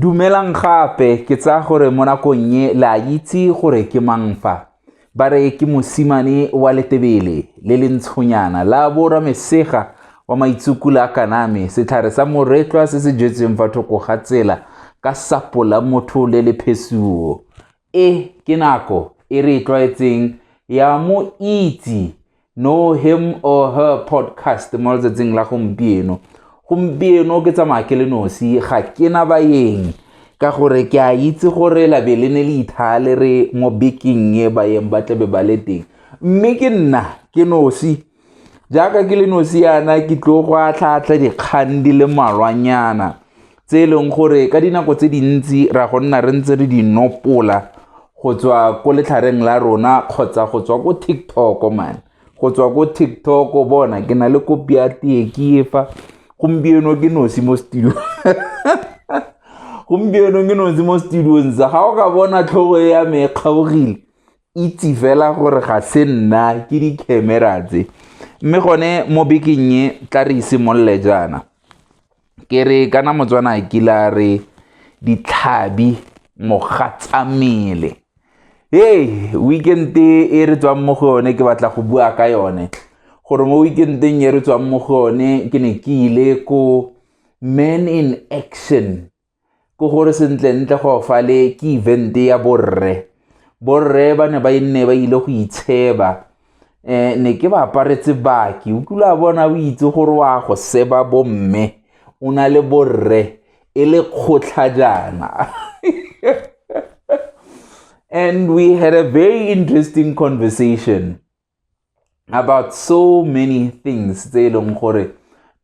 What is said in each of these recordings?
Dumelang gape, ke tsaya gore mo nakong e le a itse gore ke mang fa. Ba re ke mosimane wa letebele le le ntshonyana la bora mesega wa maitsukula a kaname setlhare sa moretlwa se se jetsweng fa thoko ga tsela ka sapo la motho le le phesuo E ke nako e re e tlwaetseng ya mo itse know him or her podcast mo letsatsing la gompieno gompieno ke tsamaya ke le nosi ga ke na bayeng ka gore ke a itse gore labe le ne le ithale re mo bekeng e bayeng ba tlabe ba le teng mme ke nna ke nosi jaaka ke le nosi yana ke tlo go atlhaatlha dikgang di le malwanyana tse e leng gore ka dinako tse dintsi ra go nna re ntse re di nopola go tswa ko letlhareng la rona kgotsa go tswa ko tiktok man go tswa ko tiktok bona ke na le kopi ya tee ke efa gompieno ke nosi mo studio gompieno ke nosi mo studiong sa ga o ka bona tlhogo ya me e kgaogile itse fela gore ga se nna ke di-camera tse mme gone mo bekeng e tla re isimolole jaana ke re kana motswana kila re ditlhabi mogatsamele hey weekend e re tswang mo go yone ke batla go bua ka yone gore mo weekendeng e re tswang mo go yone ke ne ke ile ko man in action ke gore sentlentle go fale ke event ya borre borre ba ne ba e nne ba ile go itsheba um ne ke ba aparetse baki o kile a bona o itse gore wa go seba bomme o na le borre e le kgotlha jaana and we had a very interesting conversation about so many things tse e leng gore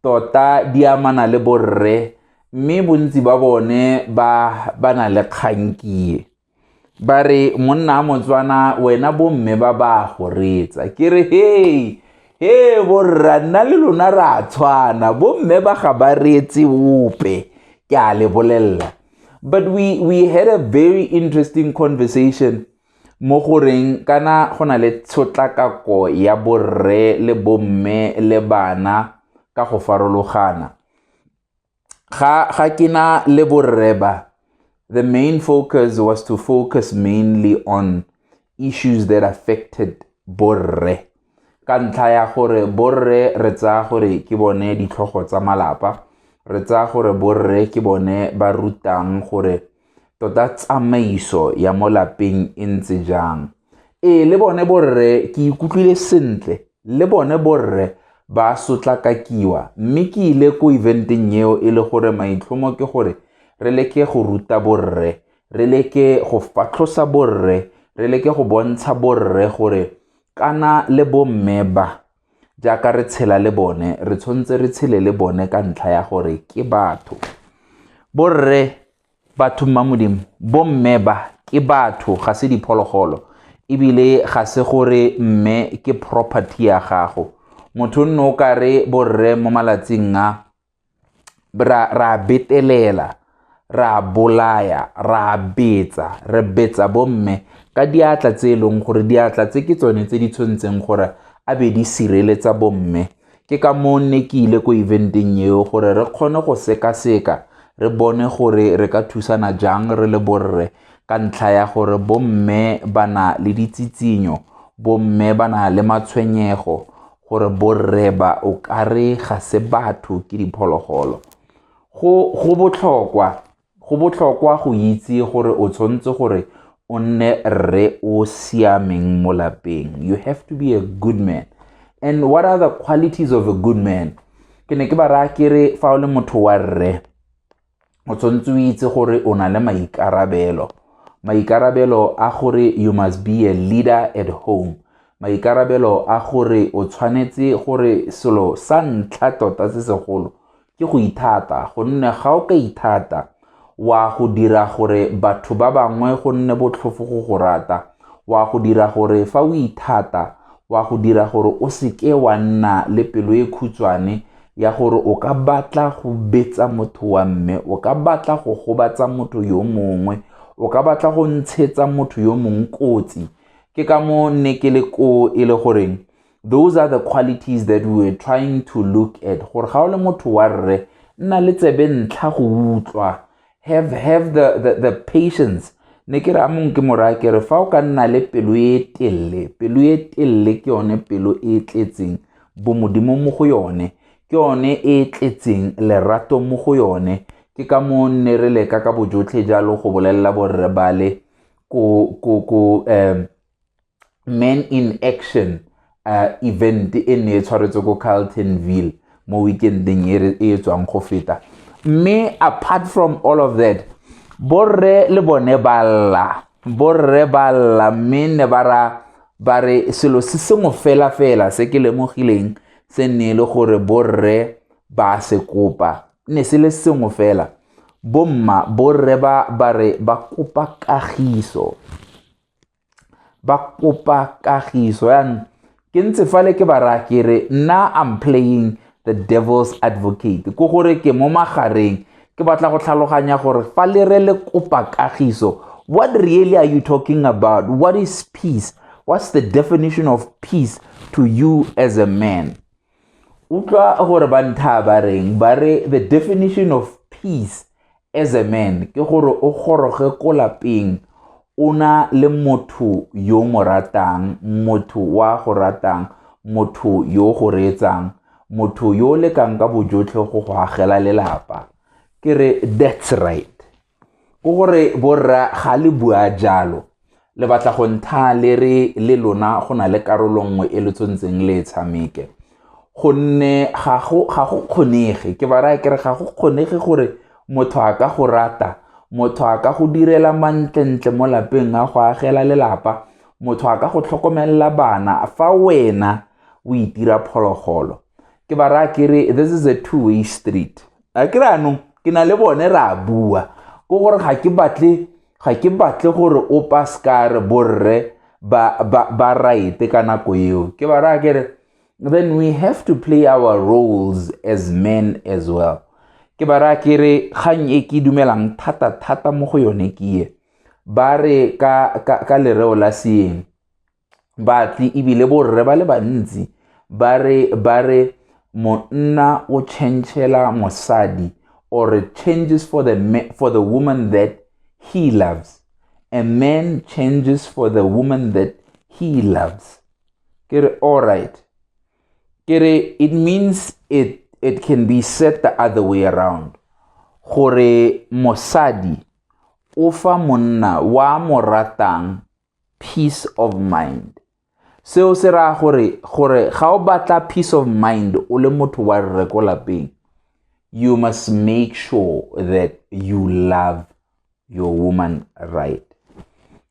tota di amana le borre mme bontsi ba bone ba ba na le kgankie ba re monna a motswana wena bomme ba ba go retsa ke re hei he borra nna le lona re a tshwana bomme ba ga ba reetse ope ke a le bolelela but we, we had a very interesting conversation mo go reng kana go na le tshotlakako ya borre le bomme le bana ka go farologana ga ga ke na le borre ba the main focus was to focus mainly on issues that affected borre ka ntlha ya gore borre re tsaya gore ke bone ditlhogo tsa malapa re tsaya gore borre ke bone ba rutang gore tota tsamaiso ya mo lapeng e ntse jang ee le bone borre ke ikutlwile sentle le bone borre ba sotlakakiwa mme ke ile ko eventeng eo e le gore maitlhomo ke gore re leke go ruta borre re leke go fatlhosa borre re leke go bontsha borre gore kana le bomme ba jaaka re tshela le bone re tshwanetse re tshele le bone ka ntlha ya gore ke batho borre batho mma modimo bomme ba ke batho ga se diphologolo ebile ga se gore mme ke property ya gago motho nne o ka re borre mo malatsing a ra ra betelela ra bolaya ra betsa re betsa bomme ka diatla tse e leng gore diatla tse ke tsone tse di tshwantseng gore a be di sireletsa bomme ke ka moo nne ke ile ko eventeng eo gore re kgone go sekaseka re bone gore re ka thusana jang re le borre ka ntlha ya gore bomme ba na le ditsitsinyo bomme ba na le matshwenyego gore borreba o ka re ga se batho ke diphologolo go botlhokwa go botlhokwa go itse gore o tshwanetse gore o nne rre o siameng mo lapeng you have to be a good man and what are the qualities of a good man ke ne ke ba raya ke re fa o le motho wa rre o tshwanetse o itse gore o na le maikarabelo maikarabelo a gore you must be a leader at home maikarabelo a gore o tshwanetse gore selo sa ntlha tota se segolo ke go ithata gonne ga o ka ithata wa go dira gore batho ba bangwe go nne botlhofo go go rata wa go dira gore fa o ithata wa go dira gore o seke wa nna le pelo e khutshwane ya gore o ka batla go betsa motho wa mme o ka batla go gobatsa motho yo mongwe o ka batla go ntshetsa motho yo mongwe kotsi ke ka mo ne ke le ko e le goreng those are the qualities that we were trying to look at gore ga o le motho wa rre nna le tsebe ntlha go utlwa have have the the, the patience ne ke re a mong ke mora ke re fa o ka nna le pelo e telele pelo e telele ke yone pelo e tletseng bomodimo mo go yone ke yone e tletseng lerato mo go yone ke ka moo nne re leka ka bojotlhe jalo go bolelela borre bale ko ko ko um man in action uh, event e ne e tshwaretse ko carltonville mo weekendeng e e tswang go feta mme apart from all of that borre le bone ba lla borre ba lla mme ne ba ra ba re selo se sengwe fela fela se ke lemogileng se nne e le gore borre ba se kopa ne se le sengwe fela bomma borre ba ba re ba kopa kagiso ba kopa kagiso yaanong ke ntse fale ke ba raya ke re nna am playing the devil's advocate ko gore ke mo magareng ke batla go tlhaloganya gore fa le re le kopa kagiso what really are you talking about what is peace what's the definition of peace to you as a man utlwa gore ba ntha ba reng ba re the definition of peace as a man ke gore o goroge ko lapeng o na le motho yo mo ratang motho wa go ratang motho yo go reetsang motho yo lekang ka bojotlhe go go agela lelapa ke re that's right Ke gore borra ga le bua jalo le batla go ntha le re le lona go na le karolo nngwe e le tshwantseng le e tshameke gonne ga go kgonege ke ba raya kere ga go kgonege gore motho a ka go rata motho a ka go direla mantlentle mo lapeng a go agela lelapa motho a ka go tlhokomelela bana fa wena o itira phologolo ke ba raya kere this is a two way street a ke anong ke na le bone re a bua ko gore ga ke batle ga ke batle gore o paskare borre ba, ba, ba raete ka nako eo ke ba raya kere then we have to play our roles as men as well ke ba raya kere kgang e ke dumelang thata thata mo go yone ke ye ba re ka, ka, ka lereo la seeng batsi ebile borre ba le bantsi ba re ba re monna o changela mosadi or it changes for the for the woman that he loves a man changes for the woman that he loves ke re all right ke re it means it it can be said the other way around gore mosadi o fa monna wa mo ratang peace of mind seo se raya gore gore ga o batla peace of mind o le motho wa rre ko lapeng you must make sure that you love your woman right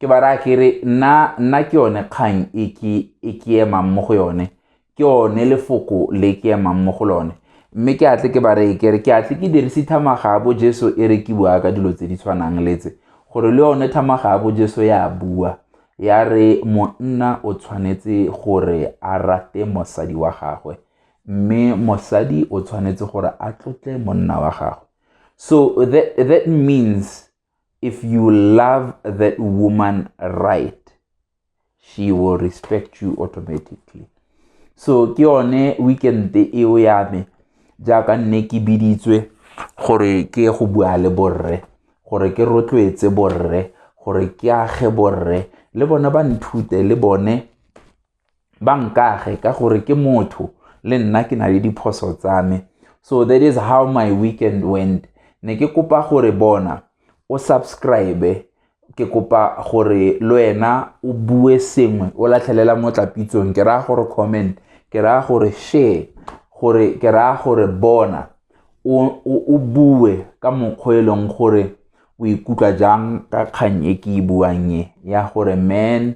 ke ba raya ke re nna nna ke yone kgang e ke e ke emang mo go yone ke one lefoko le ke emang mo go lone mme ke atle ke ba reye kere ke atle ke dirise thamaga ya bo jesu e re ke bua ka dilo tse di tshwanang letse gore le yone thamaga ya bo jesu ya bua ya re monna o tshwanetse gore a rate mosadi wa gagwe mme mosadi o tshwanetse gore a tlotle monna wa gagwe so that, that means if you love that woman right she will respect you automatically so ke yone weekend eo ya me jaaka nne ke biditswe gore ke go bua le borre gore ke rotloetse borre gore ke age borre le bone ba nthute le bone ba nkage ka gore ke motho le nna ke na le diphoso tsa me so that is how my weekend went ne ke kopa gore bona o subscribe ke kopa gore le wena o bue sengwe o latlhelela mo tlapitsong ke raya gore comment ke raya gore share gore ke raya gore bona o bue ka mokgwa e leng gore o ikutlwa jang ka kgang e ke e buang e ya gore man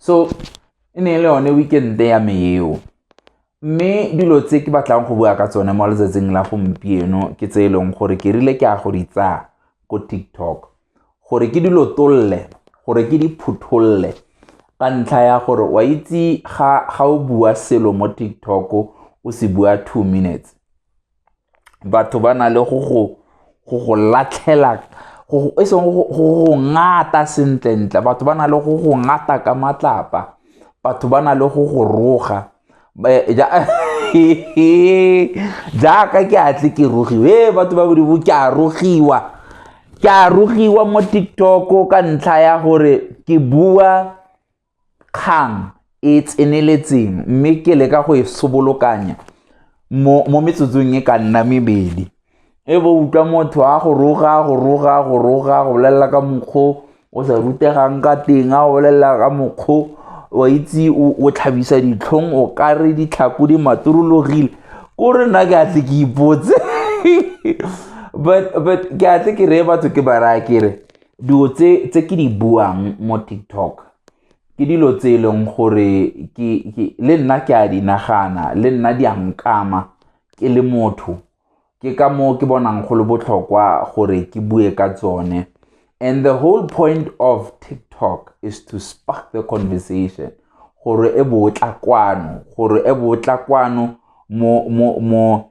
so e ne e le yone weekend-e ya me eo mme dilo tse ke batlang go bua ka tsone mo letsatsing la gompieno ke tse e leng gore ke rile ke a go di tsaya ko tiktok gore ke dilo tolle gore ke di phutholole ka ntlha ya gore wa itse ga o bua selo mo tiktok o se bua two minutes batho ba na le go go go go latlhela e seng go go ngata sentlentle batho ba na le go go ngata ka matlapa batho ba na le go go roga jaaka ke atle ke rogiwa e batho ba bodibo ke a rogiwa ke a rogiwa mo tiktok ka ntlha ya gore ke bua kgang e tseneletseng mme ke leka go e sobolokanya mo, mo metsotsong e ka nna mebedi e bo utlwa motho a go roga go roga go roga go bolelela ka mokgo o sa rutegang ka teng a go bolelela ka mokgo wa itse o tlhabisa ditlhong o ka re ditlhako di maturologile ko re nna ke a tle ke ipotse but but ke a tle ke reye batho ke ba raya ke re Dilo tse ke di buang mo TikTok ke dilo tse e leng gore le nna ke a di nagana le nna di a nkama ke le motho ke ka moo ke bonang go le botlhokwa gore ke bue ka tsone and the whole point of tiktok is to spark the conversation gore e botla kwano gore e botla kwano mo mo mo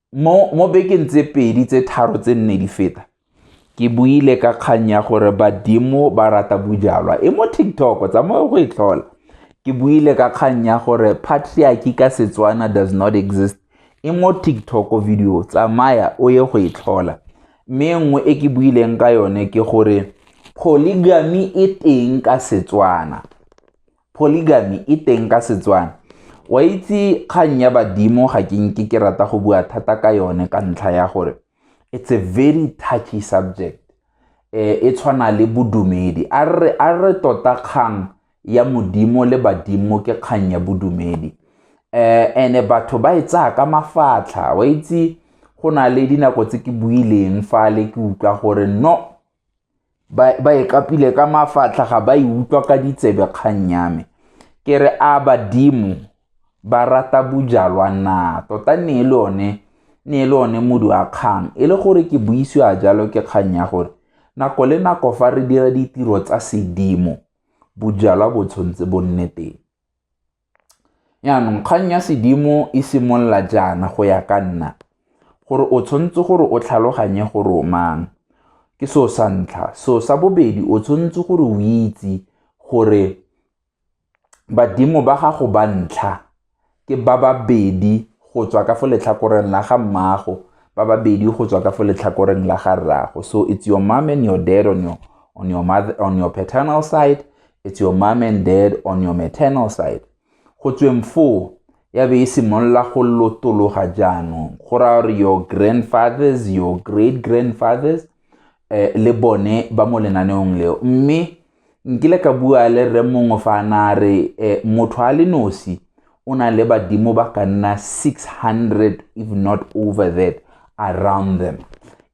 mo bekeng tse pedi tse tharo tse nne di feta ke buile ka kgang ya gore badimo ba rata bojalwa e mo tiktok tsamaya go e tlhola ke buile ka kgang ya gore patriarchy ka setswana does not exist e mo tiktok video tsamaya o ye go e tlhola mme nngwe e ke buileng ka yone ke gore polygamy e teng ka setswana Polygamy e teng ka Setswana. Wa itse kgang ya badimo ga ke nke ke rata go bua thata ka yone ka ntlha ya gore it's a very touchy subject eh, e tshwana le bodumedi a re tota kgang ya modimo le badimo ke kgang ya bodumedi eh ene batho ba e tsaya ka mafatlha wa itse go na le dinako tse ke buileng fa le ke utlwa gore no ba e kapile ka mafatlha ga ba e utlwa ka ditsebe kgang ya me ke re a badimo ba rata bojalwa na tota ne e le one ne e le one modu wa kgang e le gore ke buisiwa jalo ke kgang ya gore nako le nako fa re dira ditiro tsa sedimo bojalwa bo tshwanetse bo nne teng Jaanong, kgang ya sedimo e simolola jaana go ya ka nna, gore o tshwanetse gore o tlhaloganye gore o mang. Ke seo sa ntlha. Seo sa bobedi, o tshwanetse gore o itse gore badimo ba gago ba ntlha ke ba babedi go tswa ka fo letlhakoreng la ga mmaago, ba babedi go tswa ka fo letlhakoreng la ga rraago. So it's your mom and your dad on your, on your, mother, on your paternal side, it's your mom and dad on your maternal side go tsweng foo ya be e simolola go lotologa jaanong go raya gore your grandfathers your great grandfathers eh, le bone ba mo lenaneong leo mme nkile ka bua le rre mongwe fa na re eh, motho a le nosi o na le badimo ba ka nna 600 if not over that around them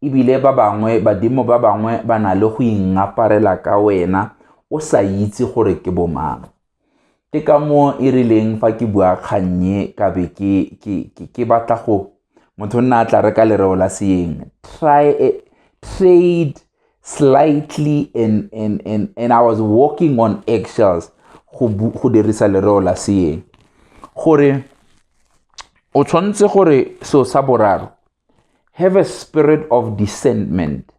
ebile ba bangwe badimo ba bangwe ba na le go ingaparela ka wena o sa itse gore ke bomang ke ka moo e rileng fa ke bua kgannye ka be ke batla go motho nna a tla reka lereo la seeng try a, trade slightly and, and, and, and i was walking on eggshells go dirisa lereo la seeng gore o tshwanetse gore seo sa boraro have a spirit of discernment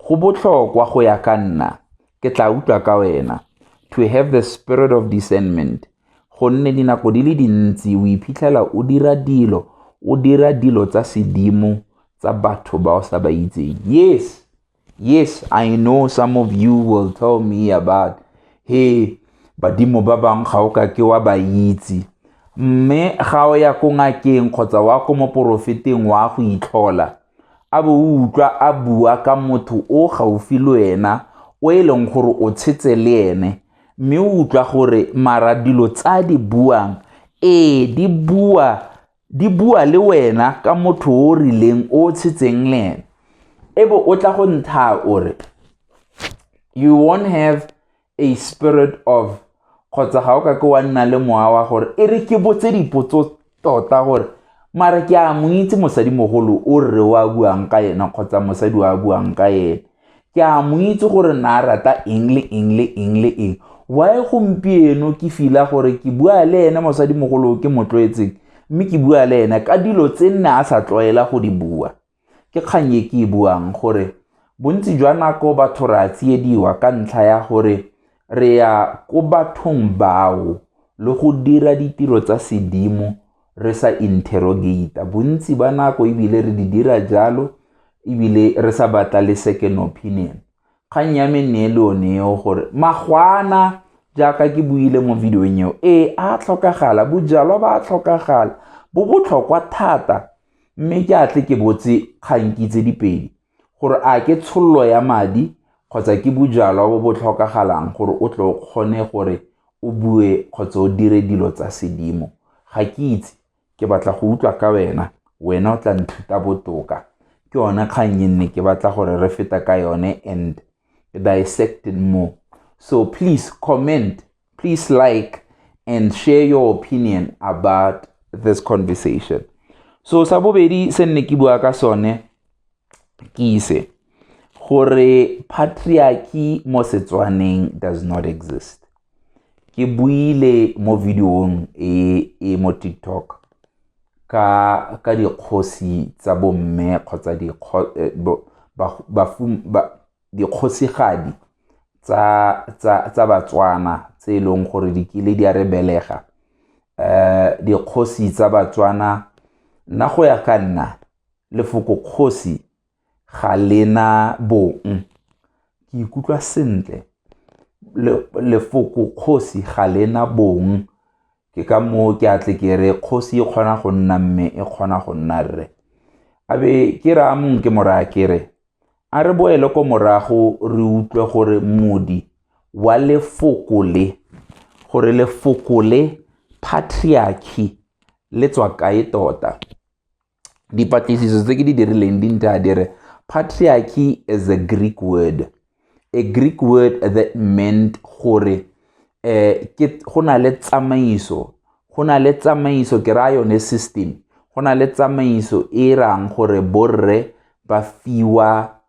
go botlhokwa go ya ka nna ke tla utlwa ka wena to have the spirit of discernment gonne dinako di le dintsi o iphitlhela o dira dilo o dira dilo tsa sedimo tsa batho ba o sa ba itseng yes yes i know some of you will tell me about he badimo ba bangwe ga o ka ke wa ba itse mme ga o ya ko ngakeng kgotsa wa ko moporofeteng wa go itlhola a bo o utlwa a bua ka motho o gaufi le wena o e leng gore o tshetse le ene mme o utlwa gore mara dilo tsa di buang ee di bua di bua le wena ka motho o o rileng o o tshetseng le ene e bo o tla go ntha o re you won't have a spirit of kgotsa ga o ka ke wa nna le mowa wa gore e re ke botse dipotso tota gore mare ke a mo itse mosadimogolo o rre o a buang ka ena kgotsa mosadi o a buang ka ena ke a mo itse gore na rata eng le eng le eng le eng wae gompieno ke fila gore ke bua le ene mosadimogolo ke mo tlwaetseng mme ke bua le ene ka dilo tse nne a sa tlwaela go di bua Ke kgang e ke e buang gore bontsi jwa nako batho re a tsiediwa ka ntlha ya gore re ya ko bathong bao le go dira ditiro tsa sedimo re sa interrogate bontsi ba nako ebile re di dira jalo ebile re sa batla le second opinion kgang ya me nne le one eo gore magwana jaaka ke buile mo videong eo ee a tlhokagala bojalwa ba a tlhokagala bo botlhokwa thata mme ke a tle ke botse kganki tse dipedi gore a ke tshololo ya madi kgotsa ke bojalwa bo bo tlhokagalang gore o tle o kgone gore o bue kgotsa o dire dilo tsa sedimo ga ke itse ke batla go utlwa ka wena wena o tla nthuta botoka ke yone kgang e nne ke batla gore re feta ka yone and dissect more so please comment Please like and share your opinion about this conversation. So sa bobedi se nne ke bua ka sone ke ise gore patriarchy mo Setswaneng does not exist. Ke buile mo videong e e mo TikTok ka ka dikgosi tsa bomme kgotsa dikgo eh, bo- ba- bafum- ba- dikgosigadi tsa, tsa, tsa batswana tse e leng gore di kile di a re belega um dikgosi tsa batswana nna go ya ka nna lefoko kgosi ga lena bong ke ikutlwa sentle lefoko kgosi ga lena bong Ke ka moo ke a tle ke re kgosi e kgona go nna mme e kgona go nna rre. A be ke raya mongwe ke mo raya ke re, a re boele ko morago re utlwe gore modi wa lefoko le, gore lefoko le patriarchy le tswa kae tota. dipatlisiso tse ke di dirileng di ntha di re patriarchy is a greek word a greek word that meant gore eh ke go na le tsamaiso go na le tsamaiso ke raya yone system go na le tsamaiso e e rang gore borre ba fiwa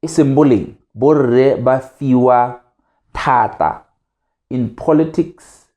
e seng boleng borre ba fiwa thata in politics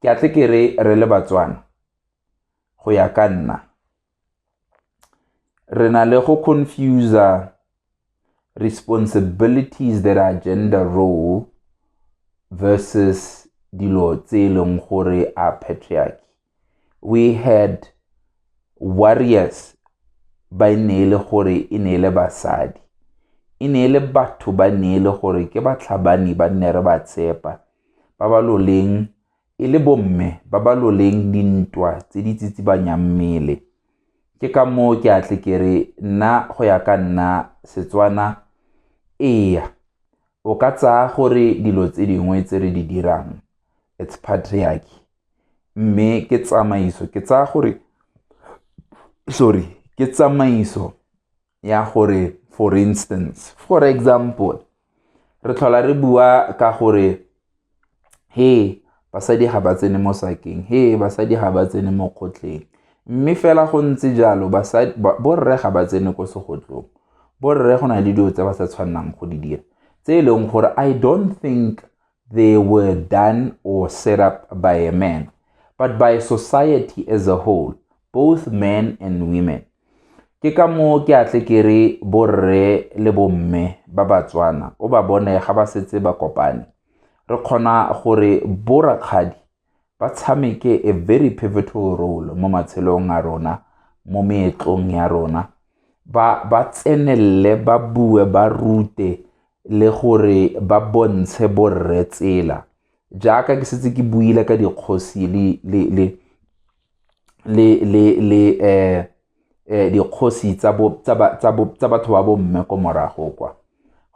Ke a tle ke re re le Batswana, go ya ka nna, re na le go confuser responsibilities that are gender role versus dilo tse e leng gore a patriarchy we had warriors ba e ne e le gore e ne e le basadi e ne e le batho ba ne e le gore ke batlhabani ba nne re ba tshepa ba ba loleng e le bomme ba ba loleng dintwa tse di tsitsibanyang mmele ke ka moo ke atle ke re nna go ya ka nna setswana eya o ka tsaya gore dilo tse dingwe tse re di dirang it's patriarchy mme ke tsamaiso ke tsaya gore sorry ke tsamaiso ya gore for instance for example re tlhola re bua ka gore he basadi ga ba tsene mo sakeng he basadi ga ba tsene mo kgotleng mme fela go ntse jalo borre ga ba tsene ko segotlong borre go na le dilo tse ba sa tshwanelang go di dira tse e leng gore i don't think they were done or set up by a man, but by society as a whole, both men and women. Ke ka moo ke atle ke re borre le bomme ba Batswana o ba bone ga ba setse ba kopane. Re kgona gore borakgadi ba tshameke a very pivotal role mo matshelong a rona mo meetlong ya rona ba ba tsenelele ba bue ba rute le gore ba bontshe borre tsela jaaka ke setse ke buile ka dikgosi le le le le le le eh dikgosi tsa batho ba bo mme ko morago kwa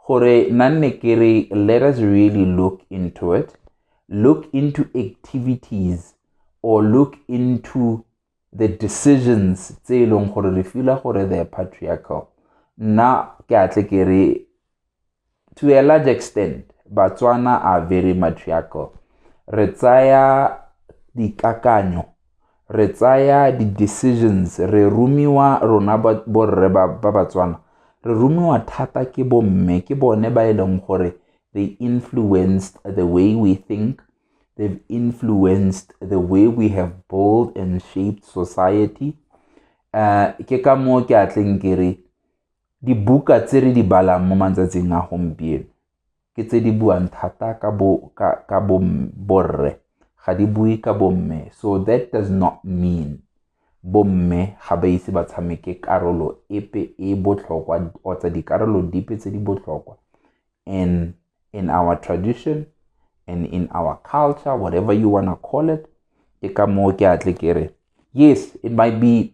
gore na nne ke re let us really look into it look into activities or look into the decisions tse e leng gore re fila gore the patriarchal nna ke atle ke re To a large extent, Batswana are very matriarchal. Re tsaya dikakanyo, re tsaya di-decisions, re rumiwa rona borre ba Batswana, re rumiwa thata ke bomme ke bone ba e leng gore they influenced the way we think, they've influenced the way we have built and shaped society. Uh, ke ka moo ke atleng ke re Dibuka tse re di balang mo matsatsing a gompieno ke tse di buang thata ka bo ka ka bo borre ga di bue ka bomme so that does not mean bomme ga ba ise ba tshameke karolo epe e botlhokwa kgotsa dikarolo dipe tse di botlhokwa and in our tradition and in our culture whatever you wanna call it ke ka moo ke atle ke re yes it might be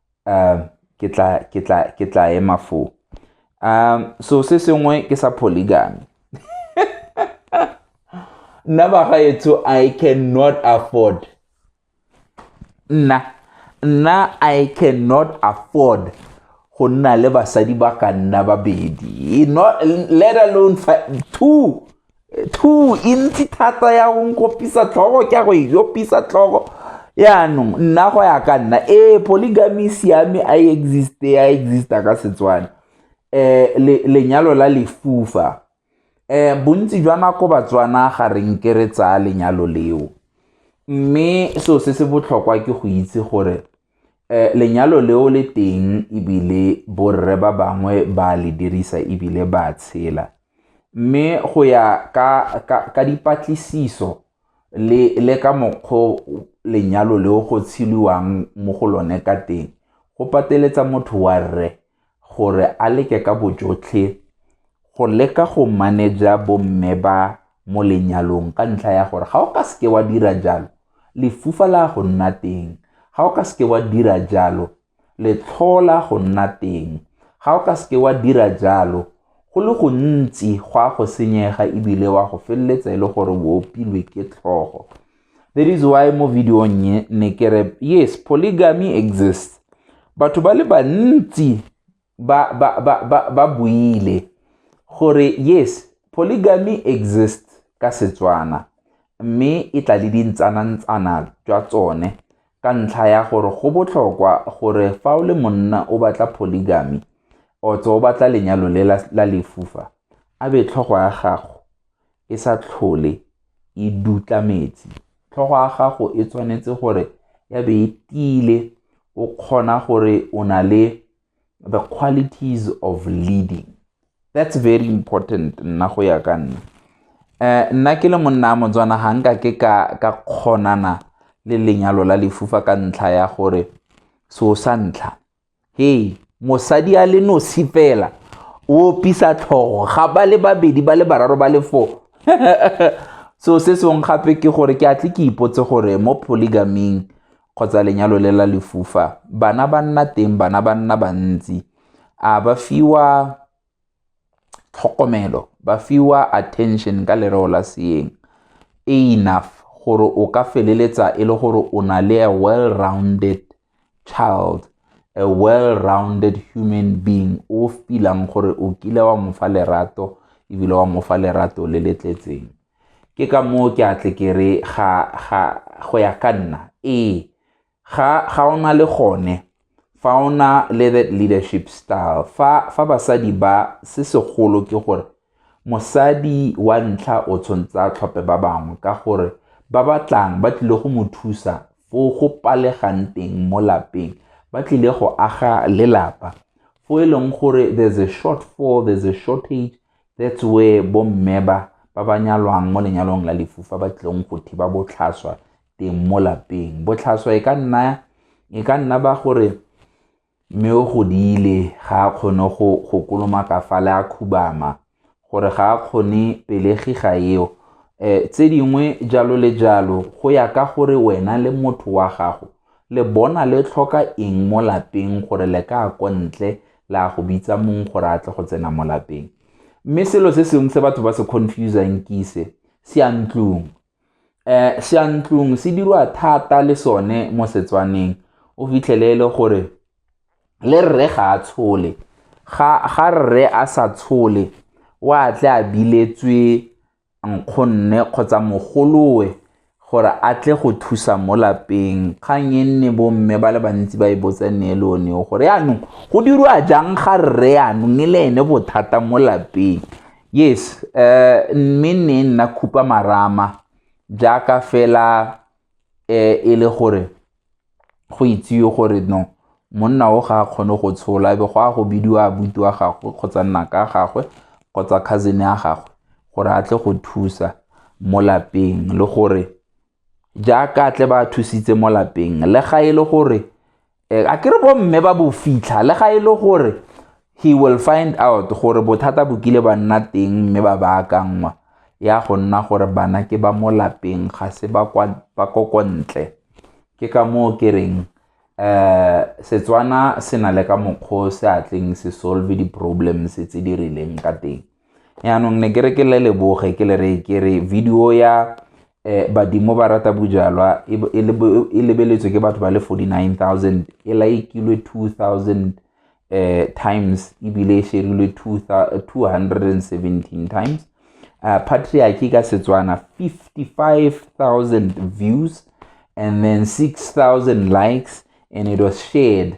um ke tla ke tla ke tla ema foo um so se sengwe ke sa polygamy nna bagaetsho i cannot afford nna nna i cannot afford go nna le basadi ba ka nna babedi not let alone two two e ntsi thata ya go nkopisa tlhogo ke ya go e opisa tlhogo yaanong nna go ya ka nna ee polygamy e siame a e existe a exista ka setswana um lenyalo la lefufa um bontsi jwa nako batswana ga re nke re tsaya lenyalo leo mme seo se se botlhokwa ke go itse gore Eh, lenyalo leo le teng ebile borre ba bangwe ba le dirisa ebile ba tshela mme go ya ka, ka, ka dipatlisiso le, le ka mokgwa lenyalo leo go tsheliwang mo go lone ka teng go pateletsa motho wa rre gore a leke ka bojotlhe go leka go manager bomme ba mo lenyalong ka ntlha ya gore ga o ka seke wa dira jalo lefufa la go nna teng ga o ka seke wa dira jalo letlhola go nna teng ga o ka seke wa dira jalo go le gontsi go a go senyega ebile wa go feleletsa e le gore o opilwe ke tlhogo that is why mo video nye ne ke re yes polygamy exists batho ba le bantsi ba ba ba ba, ba buile gore yes polygamy exists ka setswana mme e tla le dintsanantsana jwa tsone ka ntlha ya gore go botlhokwa gore fa o le monna o batla polygamy otso o batla lenyalo le la lefufa a be tlhogo ya gago e sa tlhole e dutla metsi tlhogo ya gago e tshwanetse gore ya be e tiile o kgona gore o na le the qualities of leading that's very important nna go ya ka nna eh nna ke le monna motswana ga nka ke ka ka kgonana le lenyalo la lefufa ka ntlha ya gore so sa ntlha hei mosadi a le nosi fela o opisa tlhogo ga ba le babedi ba le bararo ba le four so se sengwe gape ke gore ke a tle ke ipotse gore mo polygaming kgotsa lenyalo le la lefufa bana ba nna teng bana ba nna bantsi a ba fiwa tlhokomelo ba fiwa attention ka lereo la seeng e enough gore o ka feleletsa e le gore o na le a well-rounded child a well-rounded human being o filang gore o kile wa mofa lerato ebile wa mofa lerato le le tletseng ke ka moo ke a tle ke re ga go ya ka nna ee ga ga ona le gone fa ona le that leadership style fa fa basadi ba se segolo ke gore mosadi wa ntlha o tshwanetse a tlhophe ba bangwe ka gore ba batlang ba tlile go mo thusa fo go palegang teng mo lapeng ba tlile go aga lelapa fo e leng gore there's a short fall there's a shortage that's where bomme ba ba ba nyalwang mo lenyalong la lefufa ba tlileng go thiba botlhaswa teng mo lapeng botlhaswa e ka nna e ka nna ba gore mme o godile ga a kgone go go kolomaka fa le a khubama gore ga a kgone pelegi ga eo um tse dingwe jalo le jalo go ya ka gore wena le motho wa gago le bona le tlhoka eng mo lapeng gore le ka ko ntle la go bitsa mong gore a tle go tsena mo lapeng mme selo se sengwe se batho ba se confusang ke ise se a ntlong um seyantlong se dirwa thata le sone mo Setswaneng o fitlhele e le gore le rre ga a tshole ga rre a sa tshole o a tle a biletswe nkgonne kgotsa mogolowe gore a tle go thusa mo lapeng, kgang e nne bo mme ba le bantsi ba e botsa ne e le one gore yanong go dirwa jang ga rre yanong e le ene bothata mo lapeng. yes uh, mme ne nna khupa marama jaaka fela eh, e le gore go itsiwe gore no monna o ga a kgone go tshola ebe go a go bidiwa abuti wa gagwe kgotsa nnaka ya gagwe kgotsa cousin ya gagwe gore a tle go thusa mo lapeng le gore jaaka tle ba thusitse mo lapeng le ga e le gore eh, a kere bo mme ba bo fitlha le ga e le gore he will find out gore bothata bo kile ba nna teng mme ba baakanngwa ya go nna gore bana ke ba mo lapeng ga se ba ko ko ntle ke ka moo ke reng um setswana se na le ka mokgwa o se atleng se solve di-problems tse di rileng ka teng yaanong ne ke re ke le leboge ke le re ke re video ya eh, badimo ba rata bojalwa e, e, e lebeletswe ke batho ba le 49000 e laikilwe 2000 eh, times ebile e sherilwe 217 times uh, eh, patriarchy ka setswana 55000 views and then 6000 likes and it was shared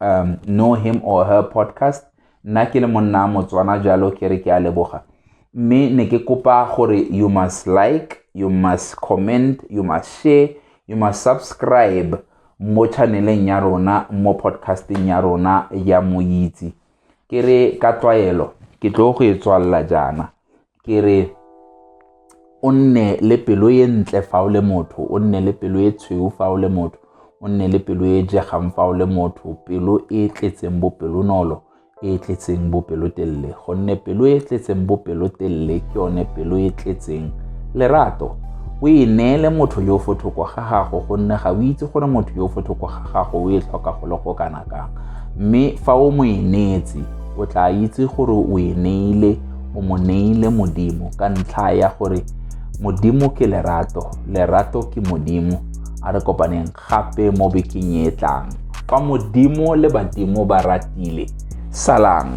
um know him or her podcast nna ke le monna motswana jalo ke re ke a leboga mme ne ke kopa gore you must like you must comment you must share you must subscribe mo channeleng ya rona mo podcasting ya rona ya moitse ke re ka tlwaelo ke tlo go e tswalela jaana ke re o nne le pelo e ntle fa o le motho o nne le pelo e tshweu fa o le motho o nne le pelo e jegang fa o le motho pelo e tletseng bopelonolo e e tletseng bopelotelele gonne pelo e e tletseng bopelotelele ke yone pelo e e tletseng lerato o e neele motho yo fo thoko ga gago gonne ga o itse gore motho yo fo thoko ga gago o e tlhoka go le go kana kang mme fa o mo e neetse o tla itse gore o e neile o mo neile modimo ka ntlha ya gore modimo ke lerato lerato ke modimo a re kopaneng gape mo bekeng e tlang fa modimo le badimo ba ratile salang